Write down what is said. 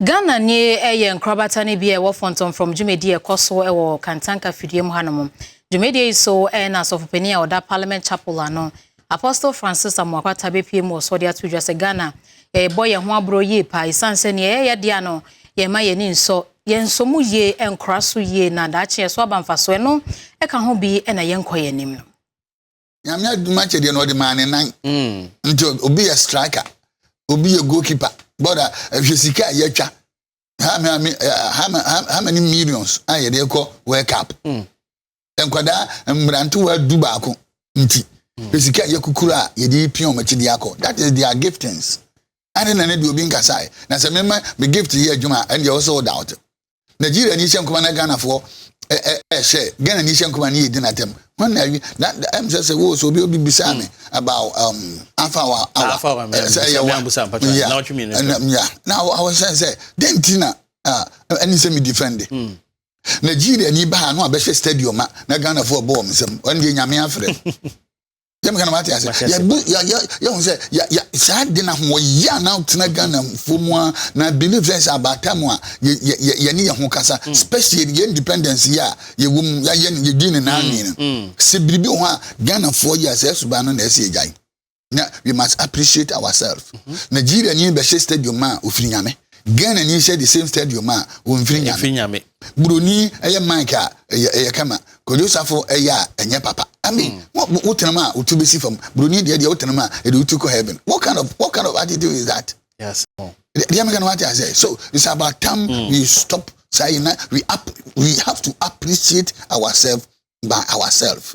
Ghana ni yɛ nkorabata no bi a ɛwɔ Fɔntɔmfrɔm dwumadi a ɛkɔ so wɔ Kantanka fidua mu hanom. Dwumadie yi so na Asɔfopanin a ɔda Parliament Chapel ano, Apostle Francis Amoah Kwata bɛpue mu wɔ so de ato dwa sɛ Ghana yɛrebɔ yɛn ho aborɔ yie paa ɛsiane sɛ nea yɛyɛ dea no yɛmma yɛn ani nsɔ yɛn nsɔ mu yie nkora so yie na daakye yɛso aba mfasoɔ ɛno ɛka ho bi na yɛnkɔ yɛn anim no. nyame adum akyɛ deɛ na ɔde maa ne nan mm. nti obi yɛ striker obi yɛ goalkeeper bɔda ɛhwɛ sika a yɛatwa how many how many millions a yɛde kɔ world cup mm. nkwadaa mmerantewa du baako nti mm. hwɛ sika a yɛkukuru a yɛde pia wɔn akyi de akɔ that is their giftings ade na ne de obi nkasae na sɛ mema me gift yɛ adwuma ɛndeɛ wɔ sɛ woda wote Nigeria ni hyɛ nkɔmɔ na Ghana foɔ ɛhwɛ Ghana ni hyɛ nkɔmɔ ni yɛ di na tɛm wɔn na awi na ɛm sɛ sɛ wo so obi obi bisa mi about um, afa wa awa sɛ ɛyɛ wa ya ya na awɔ sɛ sɛ den ti na ɛni sɛ mi defend hmm. Nigeria ni ba ha no abɛhwɛ stadium a na Ghana foɔ bɔ wɔn nsam wɔn deɛ nyame afrɛ. yɛn meka na mate ase yɛbu yɛhu sɛ saa de na ho wɔyɛ a na tena ghana fo mu a na believe sɛ sɛ abaata mu a yɛne yɛ ho kasa mm. especially yɛ independence yɛ a yɛwɔ mu yɛayɛ no yɛdi ne naa nwi no sɛ biribi wɔ hɔ a ghana foɔ yɛ a sɛ ɛsoba no na ɛsɛ yɛgyae na we must appreciate ourselves mm-hmm. nigeria ni bɛhyɛ stadium a ofiri nyame ghana ni hyɛ the same stadium a wɔmfiri nyame Buroni ɛyɛ mic a ɛyɛ ɛyɛ kama. Kojo Safo ɛyɛ a ɛnyɛ papa. I mean, mm. wo tenam a wo ti bɛsi fam. Buroni deɛ deɛ wo tenam a ɛde wo ti kɔ heaven. What kind of what kind of attitude is that? Yes. Oh. Deɛ meka no wate asɛ. So it's about time mm. we stop saying na we up we have to appreciate ourselves by ourselves.